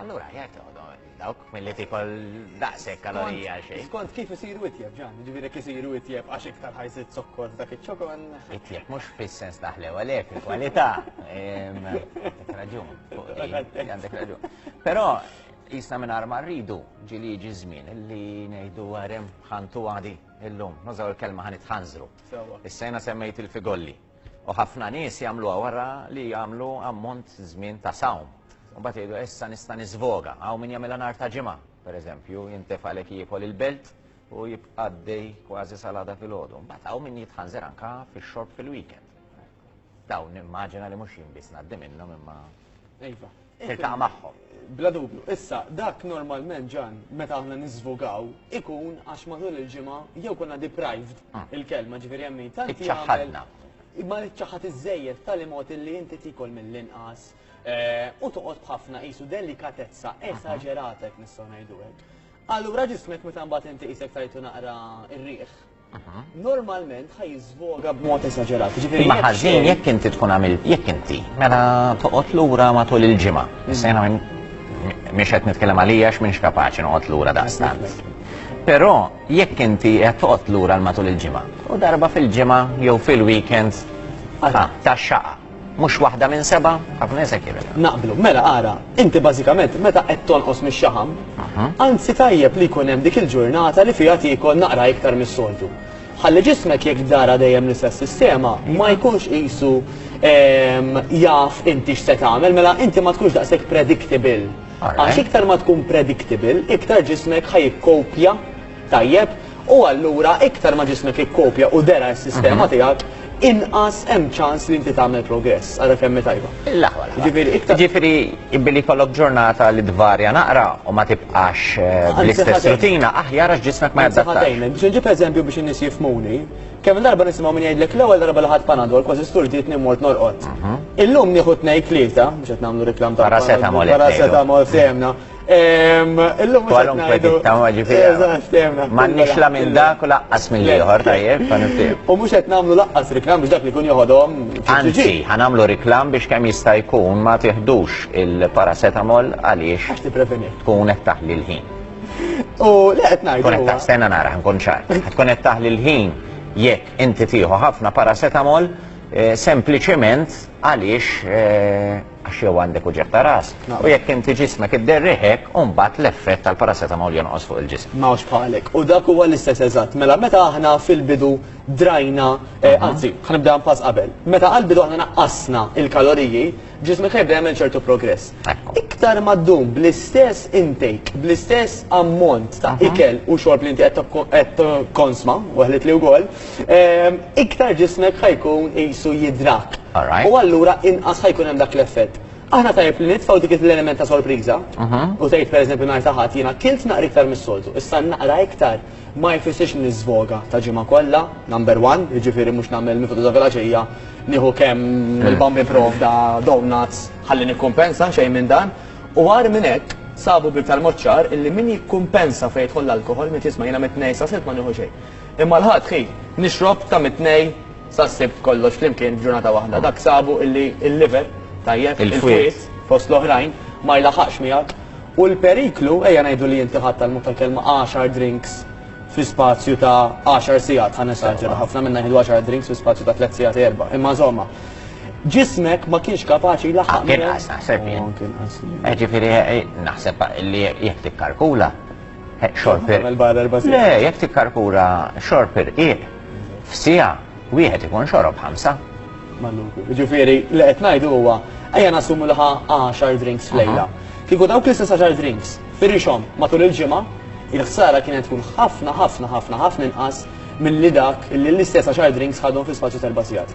Allura, jgħet dawk mill-li tikol daqsek kalorija xej. Skont kif isiru itjeb ġan, ġiviri kif isiru itjeb għax iktar ħajsit zokkor dak iċ-ċokon. Itjeb mux fis-sens taħlew għalek, il-kwalità. Għandek raġun, għandek raġun. Pero, jisna minn arma rridu ġili ġi żmien li ngħidu għarem ħantu għadi illum, nużaw il-kelma ħanit ħanżru. Issajna semmejt il-figolli. U ħafna nies jagħmluha wara li jagħmlu ammont żmien ta' sawm. U mbagħad jgħidu issa nista' niżvoga. Hawn min jagħmilha nhar ta' ġimgħa, pereżempju, jintefalek jiekol il-belt u jibqaddej kważi salada fil-ħodu. Mbagħad hawn min jitħanżer anka fix-xorb fil-weekend. Dawn nimmaġina li mhux jien biss ngħaddi minnhom imma. Iva. tiltaqa' magħhom. Bla dubju. Issa, dak normalment, Ġan, meta aħna niżvogaw, ikun għax matul il-ġimgħa jew konna deprived mm. il-kelma, ġifieri hemm min tant Iċċaħħadna. Ma iċċaħħad iżejjed tali mod li inti tikol mill-inqas eh, u toqgħod b'ħafna qisu delikatezza esaġerata jekk nistgħu ngħidu hekk. Allura ġismek meta mbagħad inti qisek tajtu naqra r-riħ normalment ħaj jiżvoga b'mod esaġerat. Ġifieri ma ħażin jekk inti tkun għamil jekk inti mela toqgħod lura matul il-ġimgħa. Mm. Issa jiena mhix qed nitkellem għalija x'minx kapaċi noqgħod lura daqstant. Però jekk inti qed toqgħod lura matul il-ġimgħa u darba fil-ġimgħa jew fil-weekend ta' xaqa. Mhux waħda minn sebgħa, ħafna nies hekk jibgħet. Naqblu. Mela ara, inti bażikament meta qed tonqos mix-xaħam, anzi tajjeb li jkun hemm dik il-ġurnata li fiha tiekol naqra iktar mis-soltu. Ħalli ġismek jekk dara dejjem l-istess sistema ma jkunx qisu jaf inti x'se tagħmel, mela inti ma tkunx daqshekk predictable. Għax iktar ma tkun predictable, iktar ġismek ħa jikkopja tajjeb u allura iktar ma ġismek ikkopja u dera s-sistema tiegħek inqas hemm ċans li inti tagħmel progress. Ara kemm hi tajba. Jiġifieri billi jkollok ġurnata li tvarja naqra u ma tibqax bl-istess rutina aħjar għax ġismek ma jadattax. Biex inġib eżempju biex in-nies jifhmuni, kemm il-darba nisimgħu min jgħidlek l-ewwel darba li ħadt Panadol kważi sturdietni u mort norqod. Illum nieħu tnejn tlieta, mhux qed nagħmlu reklam ta' Paracetamol. Paracetamol fehemna. Illum Kwalunkwe tittama ġifiri. Ma nix la minn dak u laqqas minn liħor, tajjeb, fan U mux qed namlu laqqas riklam biex dak li kun joħodhom. Anzi, ħanamlu riklam biex kemm jista' jkun ma tiħdux il-paracetamol għaliex. Għax tippreveni. Tkun qed taħli l-ħin. U li qed ngħidu. Tkun qed taħsena nara ħankun ċar. Tkun qed taħli l-ħin jekk inti tieħu ħafna paracetamol eh, sempliċement għaliex eh, għax jew għandek uġigħ ta' ras, u jekk inti ġismek idderrih hekk, u mbagħad l-effett tal-paracetamol jonqos fuq il-ġisem. Ma hawnx bħalek. U dak huwa l-istess eżatt. Mela, meta aħna fil-bidu drajna, anzi, ħa nibdeha pass qabel. Meta għall-bidu aħna naqqasna l-kaloriji, ġismek ħa jibda jagħmel ċertu progress. Iktar ma ddum bl-istess intake, bl-istess ammont ta' ikel u xorb li inti qed tikkonsma, weħlet li wkoll, iktar ġismek ħa jkun qisu jidrak. U allura inqas ħa jkun hemm dak l-effett. Aħna tajjeb li nitfgħu dik l-element ta' sorpriża u tgħid pereżempju nhar ta' Ħadd jiena kilt naqra iktar mis-soltu, issa naqra iktar ma jfissirx li niżvoga ta' ġimgħa kollha, number one, jiġifieri mhux nagħmel mifud ta' filgħaxija nieħu kemm il-bamb jipprovda donuts ħalli nikkumpensa, xejn minn dan. U agħar minn hekk, sabu b'iktar mod ċar illi min jikkumpensa fejn jidħol l-alkoħol miet jisma' jiena mit-Tnejn sa' Sibt ma nieħu xejn. Imma l-Ħadd hi, nixrob ta' mit-Tnejn sas-Sibt kollox flimkien f'ġurnata waħda. Dak sabu illi l-liver, tajjeb, il-fwied, fost l-oħrajn, ma jlaħħaqx miegħek. U l-periklu, ejja ngħidu li inti ħadt tal-mod tal-kelma għaxar drinks fi spazju ta' għaxar sigħat, ħa nesaġera, ħafna minna jieħdu għaxar drinks fi spazju ta' tliet sigħat, erba', imma insomma, ġismek ma kienx kapaċi jlaħħaq miegħek. Anke inqas naħseb jien. Ġifieri naħseb li jekk tikkalkula, Xorb irqiq. Le, jekk tikkarkura xorb irqiq, f'sija wieħed ikun xorob ħamsa. Ġifieri, li qed ngħidu huwa ejja nassumu li ħa 10 drinks f'lejla. Kieku dawk l-istess 10 drinks firixhom matul il-ġimgħa, il-ħsara kienet tkun ħafna ħafna ħafna ħafna inqas milli dak li l-istess 10 drinks ħadhom fi spazju t'erba' sigħat.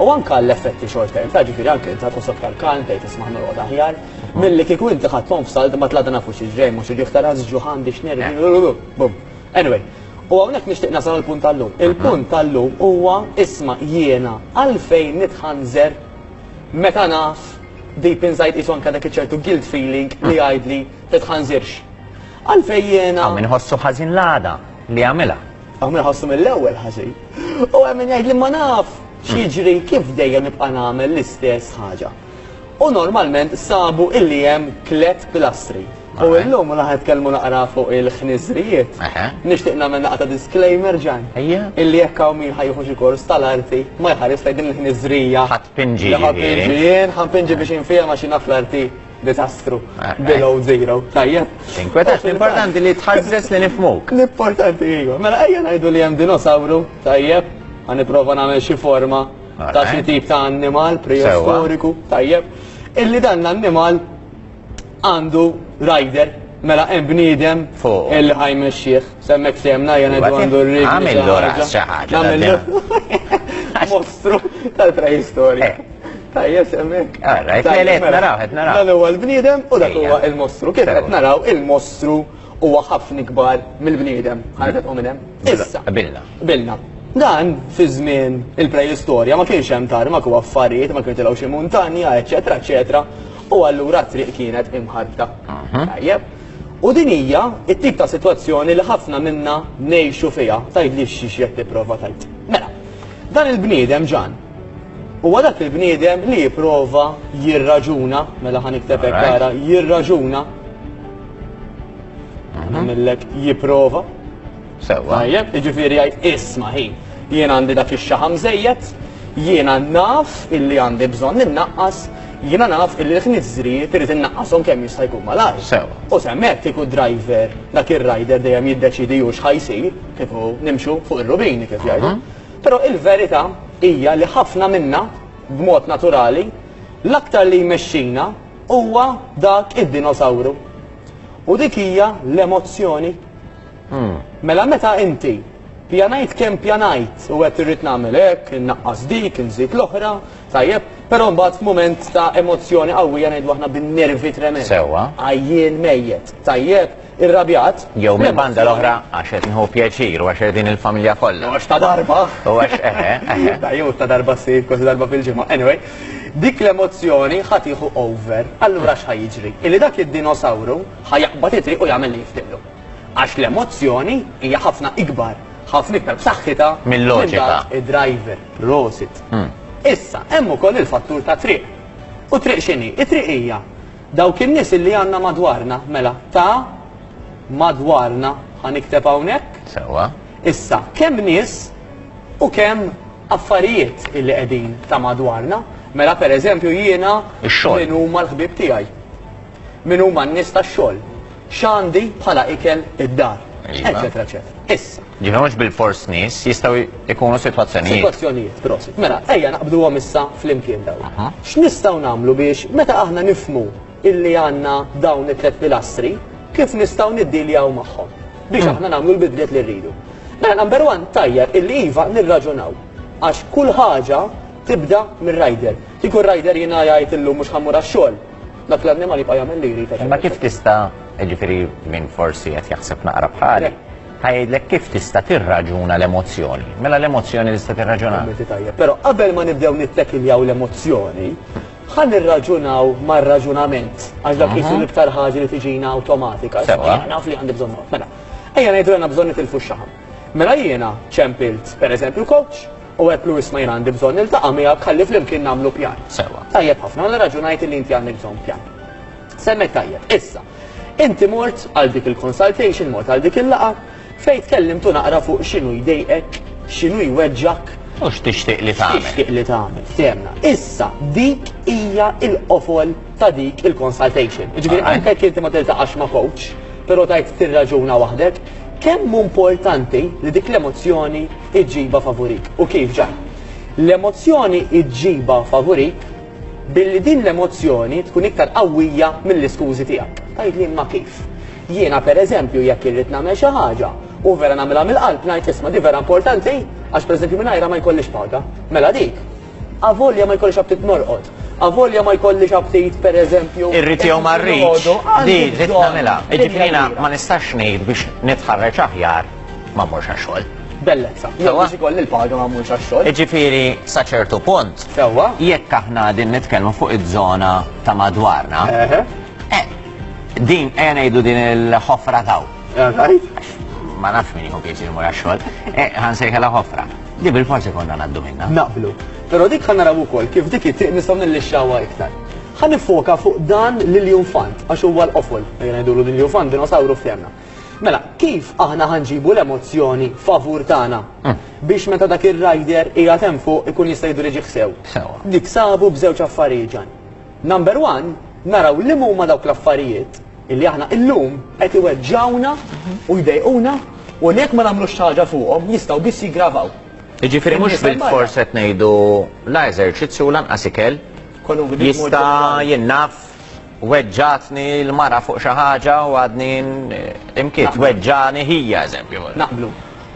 u anke għall-effetti short term, ta' ġifieri anke inti tkun soktar kalm tgħid isma' norqod aħjar, milli kieku inti ħadd pom f'salt ma tlada nafu xi ġej mhux irrieħ ta' ras ġuħ għandi x'nervi. Bum. Anyway, u hawnhekk nixtieq nasal għall-punt tal-lum. Il-punt tal-lum huwa isma' jiena għalfejn nitħanżer meta naf deep inside qisu anke dak iċ-ċertu guilt feeling li jgħidli titħanżirx. Għalfejn jiena. Hawn min iħossu ħażin l-għada li għamilha. Hawn min iħossu mill-ewwel ħażin u hemm min jgħid li ma naf x'jiġri kif dejjem nibqa' nagħmel l-istess ħaġa. U normalment sabu illi hemm tliet pilastri. U llum la ħetkellmu naqra fuq il-ħniżrijiet. Nixtieq nagħmel naqgħa ta' disclaimer ġan. Illi jekk hawn min ħajħu xi kors tal-arti ma jħares lejn din il-ħniżrija. Ħadd pinġi. Ħadd pinġi jien, ħadd pinġi biex infehimha xi naf l-arti. Disastru. Eh, eh. Below zero. Tajjeb. Tinkwetax, l-importanti li tħazzes li nifmuk. L-importanti iju. Mela ejja ngħidu li hemm dinosawru, tajjeb, għan niprofa nagħmel xi forma ta' xi tip ta' annimal preistoriku, tajjeb. Illi dan l-annimal għandu rider, mela hemm bniedem fuq il-ħajmexxieħ. Semmek sejjem ngħajja ngħidu għandu r-riġli. Għamillu ras xi ħaġa. Għamillu. Mostru tal-preistorja. Tajjeb semmek. Għarra, qed naraw, qed naraw. Dan huwa l-bniedem u dak huwa il-mostru. Kif qed naraw il-mostru huwa ħafna ikbar mill-bniedem. Ħarġet u minn hemm. Issa. Bilna. Bilna. Dan fi żmien il-preistorja ma kienx hemm tarmak u affarijiet, ma kienx tilgħu xi muntanja, eċetera, eċetera. U allura t-triq kienet imħarta. Tajjeb. U din hija t-tip ta' sitwazzjoni li ħafna minna ngħixu fiha. Tgħidlix xiex qed tipprova tgħid. Mela, dan il-bniedem Ġan, huwa dak il-bniedem li jipprova jirraġuna, mela ħa nikteb hekk ara, jirraġuna, nagħmillek jipprova. Sewwa. Tajjeb, jiġifieri jgħid, isma' ħin, jien għandi dak ix-xaħam żejjed, jiena naf illi għandi bżonn innaqqas, jiena naf illi l-ħniżżrijiet irid innaqqashom kemm jista' jkun malajr. Sewwa. U se hemmhekk kieku d-driver, dak ir-rider dejjem jiddeċiedi hu x'ħa jsir, kieku nimxu fuq ir-rubini kif jgħidu. Però il-verità hija li ħafna minna, b'mod naturali, l-aktar li jmexxina huwa dak id-dinosawru. U dik hija l-emozzjoni. Mela meta inti pjanajt kemm pjanajt u għedt irrid nagħmel hekk, innaqqas dik, inżid l-oħra, tajjeb, però mbagħad f'mument ta' emozzjoni qawwija ngħidu aħna bin-nervi tremend. Sewwa. Għajjien mejjet, tajjeb, irrabjat. Jew mill-banda l-oħra għax qed nieħu pjaċir u għax qegħdin il-familja kollha. U għax ta' darba. U għax eħe, eħe. Ta' jew ta' darba ssir kważi darba fil-ġimgħa. Anyway, dik l-emozzjoni ħa tieħu over. Allura x'ħa jiġri? Illi dak id-dinosawru ħa jaqbad it-triq u jagħmel li jiftiqlu. Għax l-emozzjoni hija ħafna ikbar, ħafna iktar b'saħħitha mill-loġika. Id-driver, prosit. Issa, hemm ukoll il-fattur ta' triq. U triq x'inhi? It-triq hija dawk in-nies illi għandna madwarna, mela, ta' madwarna, ħa nikteb hawnhekk. Sewwa. Issa, kemm nies u kemm affarijiet illi qegħdin ta' madwarna, mela pereżempju jiena min huma l-ħbieb tiegħi. Min huma n-nies tax-xogħol? X'għandi bħala ikel id-dar? Eċetera, eċetera. Issa. Ġifieri mhux bilfors nies, jistgħu jkunu sitwazzjonijiet. Sitwazzjonijiet, prosit. Mela, ejja naqbduhom issa flimkien dawn. X'nistgħu nagħmlu biex meta aħna nifhmu illi għandna dawn it-tliet pilastri, kif nistgħu niddiljaw magħhom biex aħna nagħmlu l-bidliet li rridu? Mela, number one, tajjeb illi iva nirraġunaw għax kull ħaġa tibda mir-rider. Kieku r-rider jiena jgħid illum mhux ħa mmur għax-xogħol, Dak l-annimal jibqa' jagħmel li jrid. Imma kif tista' jiġifieri minn forsi qed jaħseb naqra bħali, ħajdlek kif tista' tirraġuna l-emozzjoni. Mela l-emozzjoni tista' tirraġuna. Però qabel ma nibdew nittekiljaw l-emozzjoni, ħa nirraġunaw mar-raġunament għax dak qisu l-iktar ħaġa li tiġina awtomatika. Sewwa. Naf li għandi bżonn. Mela, ejja ngħidu għandna bżonn nitilfu x-xaħam. Mela jiena ċempilt pereżempju coach, U hekk Louis ma jien għandi bżonn niltaqa' miegħek ħalli flimkien nagħmlu pjan. Sewwa. Tajjeb ħafna, mela raġunajt illi inti għandek bżonn pjan. Semmejt tajjeb. Issa, inti mort għal dik il-consultation, mort għal dik il-laqgħa, fejn tkellimtu naqra fuq x'inhu jdejqek, x'inhu jweġġgħek, U x'tixtieq li tagħmel. x'tixtieq li tagħmel, ftehemna. Issa, dik hija l-qofol ta' dik il-consultation. Jiġifieri Alright. anke jekk inti ma tiltaqax ma' coach, però tgħid tirraġuna waħdek, kemm hu importanti li dik l-emozzjoni iġġibha favurik. U kif ġa? L-emozzjoni iġġibha favurik billi din l-emozzjoni tkun iktar qawwija mill-iskużi tiegħek. Tajt li ma kif. Jiena per eżempju jekk irrid nagħmel xi ħaġa u vera nagħmilha mill-qalb ngħid isma' di vera importanti għax per eżempju mingħajra ma jkollix paga. Mela dik Avolja ma jkollix aptit norqod. Avolja ma jkollix aptit, per eżempju. Irrit jew ma rridx. Di, rrit namela. Iġibrina, ma nistax ngħid biex nitħarreġ aħjar ma morx għaxol. Bellezza. Jew biex ikolli l-paga ma morx għaxol. Iġifiri, sa ċertu punt. Sewa. Jekk aħna din nitkellmu fuq iż-żona ta' madwarna. Eh, din, ejja ngħidu din il-ħofra taw. Ma nafx min jħu pieċi jmur għaxol. Eh, ħan sejħela ħofra. Li bil-forsi konna ngħaddu minnha. Naqblu. Però dik ħa naraw ukoll kif dik it-tieq nistgħu nillixxawha iktar. Ħa niffoka fuq dan l-iljunfant għax huwa l-qofol, ejja ngħidulu l-iljunfant, dinosawru ftehmna. Mela, kif aħna ħa nġibu l-emozzjoni favur tagħna biex meta dak ir-rider qiegħed hemm fuq ikun jista' jiddiriġih sew? Sewwa. Niksabu b'żewġ affarijiet ġan. Number one, naraw liema huma dawk l-affarijiet illi aħna illum qed iweġġgħuna u jdejquna u li jekk ma nagħmlux xi ħaġa fuqhom jistgħu biss jiggravaw. Jiġifieri mhux bil-fors qed ngħidu la eżerċizzju lanqas ikel jista' jinnaf weġġatni l-mara fuq xi ħaġa u għadni imkiet weġġani ħija eżempju. Naqblu.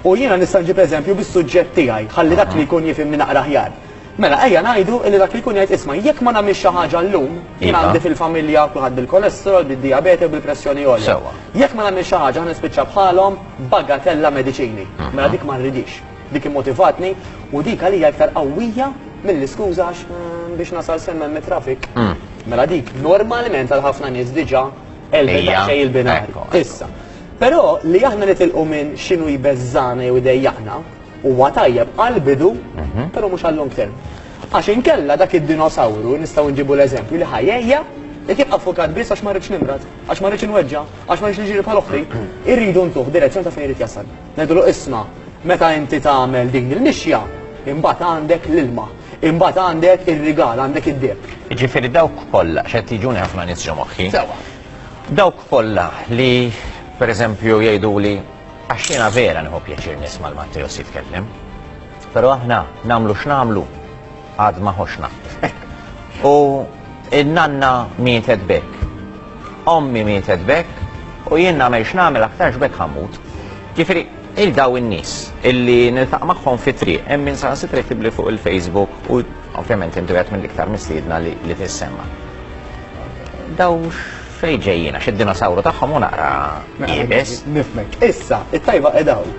U jiena nista' nġib eżempju bis-suġġett tiegħi, ħalli dak li jkun jifhimni naqra ħjar. Mela, ejja ngħidu li dak li jkun jgħid 'isma', jekk ma nagħmilx xi ħaġa llum, jien għandi fil-familja kulħadd bil-kolesterol, bid-dijabete u bil-pressjoni għolja. Jekk ma nagħmilx xi ħaġa ħa nispiċċa bħalhom b'bagatella mediċini. Mela dik ma rridhiex. Dik immotivatni u dik għalija iktar qawwija mill-iskuża għax biex nasal s'hemm hemm it-traffic. Mela dik normalment għal ħafna nies diġà għelbet daqsxejn il-binari. Issa, però li aħna nitilqu minn x'inhu jbeżżagħna jew idejjaqna, Huwa tajjeb għall-bidu, però mhux għal long term. Għax inkella dak id-dinosawru nistgħu nġibu l-eżempju li ħajejja jekk jibqa' fukat biss għax ma rridx nimrad, għax ma rridx inweġġa, għax ma rridx niġri bħal oħti. Irridu ntuh direzzjoni ta' fejn irid jasal. Ngħidulu isma' meta inti tagħmel din il-mixja, imbagħad għandek l-ilma, imbagħad għandek ir-rigal, għandek id-deheb. Jiġifieri dawk kollha x'qed jiġuni ħafna nies ġo moħħi. Sewwa. Dawk kollha li pereżempju jgħiduli Għax jiena vera nieħu pjaċir nisma' 'l Matteos jitkellem. Però aħna nagħmlu x'nagħmlu għad ma ħoxna. U n-nanna mietet b'hekk. Ommi mietet b'hekk u jien nagħmel x'nagħmel aktarx b'hekk ħammut. Ġifieri il daw in-nies illi niltaq magħhom fi triq hemm min saħansitra jtibli fuq il-Facebook u ovvjament intu qed mill-iktar mistiedna li tissemma. Dawx Fejn ġejjin għax id-dinosawru tagħhom hu naqra iebes. Nifhmek. Issa, it-tajba qiegħda hawn.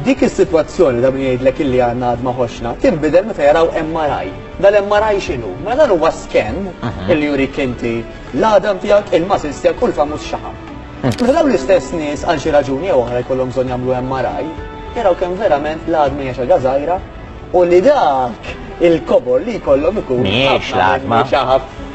Dik is-sitwazzjoni ta' min jgħidlek illi għandna għad ma ħoxna, tinbidel meta jaraw MRI. Dal-MRI x'inhu? Mela dan huwa scan illi jurik inti l-għadam tiegħek, il-muscles tiegħek u l-famuż xaħam. Meta dawn l-istess nies għal xi raġuni jew oħra jkollhom bżonn jagħmlu MRI, jaraw kemm verament l-għadma hija xi ħaġa żgħira, u li dak il-kobor li jkollhom ikun Mhijiex l-għatma.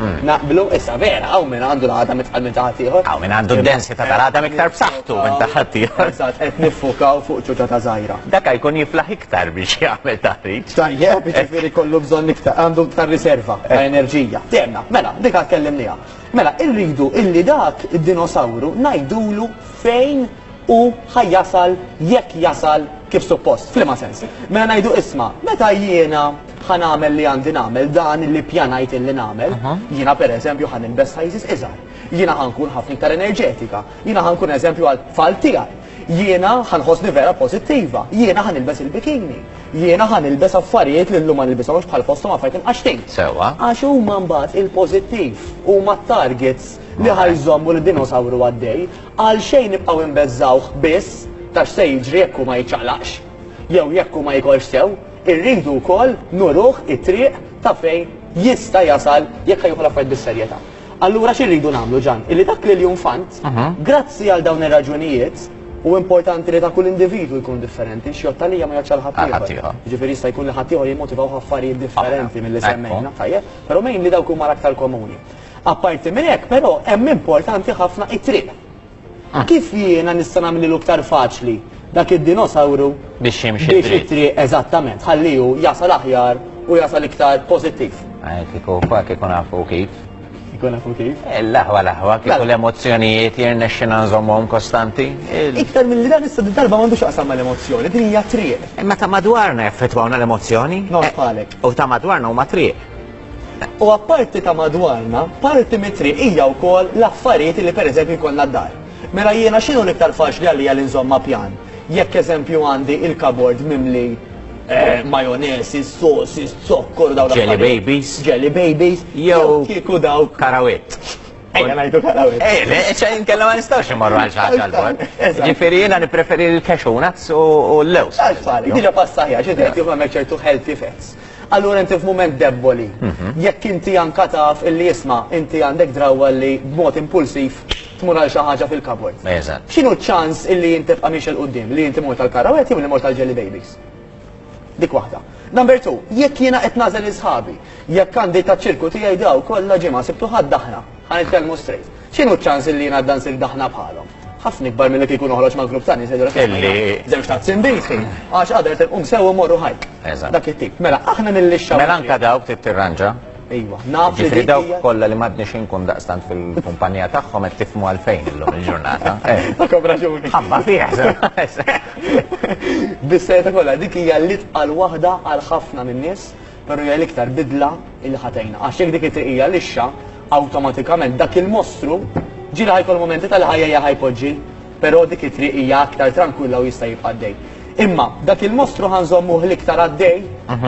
Mm. Naqblu, issa vera, għaw minn għandu l-għadam itqal minn taħat ieħor. Għaw minn għandu d-densità tal-għadam iktar b'saħħtu minn taħat ieħor. Eżatt, qed niffukaw fuq ċuċa ta' żgħira. Dak jkun jiflaħ iktar biex jagħmel taħriġ. Tajjeb, biex jiġifieri kollu bżonn iktar, għandu iktar riserva ta' eh. enerġija. Temna, mela, dik għad kellimniha. Mela, irridu illi dak id-dinosawru ngħidulu fejn u ħa jasal jekk jasal kif suppost. F'liema sens? Mela ngħidu isma', meta jiena ħa nagħmel li għandi nagħmel, dan li ppjanajt illi nagħmel, jiena pereżempju ħa nilbes sizes iżgħar, jiena ħa nkun ħafna iktar enerġetika, jiena ħa nkun eżempju għat-tfal tiegħi, jiena ħa nħossni vera pożittiva, jiena ħa nilbes il-bikini, jiena ħa nilbes affarijiet li llum ma nilbishomx bħal fosthom affarijiet imqaxxtin. Sewwa. Għax huma mbagħad il-pożittiv, huma t-targets li ħa jżommu lid-dinosawru għaddej. Għalxejn nibqgħu inbeżżgħuh biss ta' x'se jiġri jekk hu ma jiċċaqlaqx? Jew jekk hu ma jikolx sew, irridu wkoll nuruh it-triq ta' fejn jista' jasal jekk ħa jieħu l-affarijiet bis-serjetà. Allura xi rridu nagħmlu Ġann? Illi dak l-Iljun Fant, grazzi għal dawn ir-raġunijiet, u importanti li ta' kull individwu jkun differenti, x'jgħodd għalija ma jgħoddx għal ħaddieħor. Jiġifieri jista' jkun li ħaddieħor jimmotivawh affarijiet differenti milli semmejna, tajjeb, però meinli dawk huma l-aktar komuni. Apparti minn hekk, però, hemm importanti ħafna it-triq. Kif jiena nista' nagħmlilu iktar faċli dak id-dinosawru biex jimxi biex it-triq eżattament ħalli hu jasal aħjar u jasal iktar pożittiv. Kieku fak ikun nafu kif. Ikun nafu kif? Eh, l-aħwa l-aħwa, kieku mela. l-emozzjonijiet jirnexxina nżommhom kostanti. Iktar mill-li dan issa darba m'għandux aqsam mal-emozzjoni, din hija triq. Imma ta' madwarna jaffettwawna l-emozzjoni. Nofqalek. Eh, u ta' madwarna huma triq. U apparti ta' madwarna, parti mit-triq hija wkoll l-affarijiet li pereżempju jkollna d-dar. Mela jiena x'inhu l-iktar faċli għalija li nżomm ma' pjan? Jekk eżempju għandi il-kabord mimli majonese, sauces, zokkor u dawn l-affarijiet. Jelly babies. Jelly babies. Jew kieku dawk. Karawit. Ejja ngħidu karawit. Eh, le, ċaj inkella ma nistgħux immorru għal xi ħaġa l-bord. Ġifieri jiena nippreferi l-cashew nuts u l-lewż. Għalfari, diġà passajja, ġifieri kif għamel ċertu healthy fats. Allura inti f'mument debboli. Jekk inti anka taf illi isma' inti għandek drawwa li b'mod impulsiv tmur għal xi ħaġa fil-cupboard. Eżatt. X'inhu ċ-ċans illi int tibqa' miexi 'l quddiem, li inti mort għall-karrawett jew li mort għall-jelly babies? Dik waħda. Number two, jekk jiena qed nagħżel lil sħabi, jekk għandi taċ-ċirku tiegħi daw kollha ġimgħa Sibt u Ħadd aħna. Ħa nitkellmu straight. X'inhu ċ-ċans li jien għadda nsir daħna bħalhom? Ħafna ikbar milli kieku noħroġ ma' grupp ta' nies li jgħidulek sema' jiena żewġ tazzin b'whisky, għax għada irid inqum sewwa u mmorru hike. Eżatt. Dak it-tip. Mela aħna nillixxaw. Mela anke dawk trid tirranġa. Ejwa, naf li Ġifieri dik dawk hija. kollha li m'għadniex inkun daqstant fil-kumpanija tagħhom qed tifhmu għalfejn illum il-ġurnata. Eh, Għandkom raġuni. Ħabba fih. se- Bis-sejta kollha, dik hija l-itqal waħda għal ħafna min-nies Però hija l-iktar bidla li ħa tgħinna. Għax jekk dik it-triq hija lixxa, awtomatikament dak il-mostru ġieli ħa jkollu mumenti tal-ħajja ħa jpoġġi, però dik it-triq hija aktar trankwilla u jista' jibqa' għaddej. Imma dak il-mostru ħa nżommuh l-iktar għaddej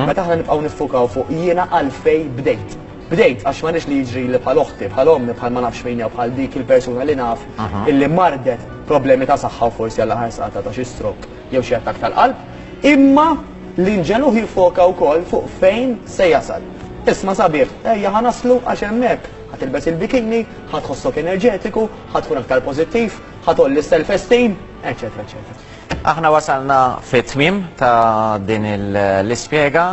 meta aħna nibqgħu niffukaw fuq jiena għalfejn bdejt. Bdejt għax ma rridx li jiġrili bħal oħti, bħal ommi, bħal ma nafx min jew bħal dik il-persuna li naf illi mardet b'problemi ta' saħħa u forsi għall-aħħar saqatha ta' xi stroke jew xi attakk tal-qalb. Imma. L-inġelu jiffoka wkoll fuq fejn se jasal. Isma' sabiħ, ejja ħa naslu għax hemm hekk, ħa tilbes il-bikini, ħa tħossok enerġetiku, ħa tkun aktar pożittiv, ħa tgħolli s-self-esteem, eċċetera eċċetera. Aħna wasalna fit-tmiem ta' din l-ispjega.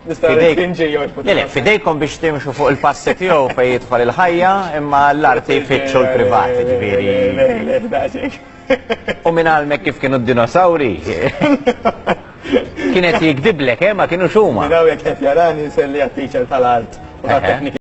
Nista' ngħid kien ġej jorbot. Le, le, fidejkom biex timxu fuq il-passi tiegħu fejn jidħol il-ħajja, imma l-arti jfittxu l-privati, ġifieri. Le, le, le, daqsxejn. U minn għalmek kif kienu d-dinosawri? Kienet jikdiblek, eh, ma kienu xuma. Minn għawek jek jarani, selli għat-teacher tal-art u tal-tekniki.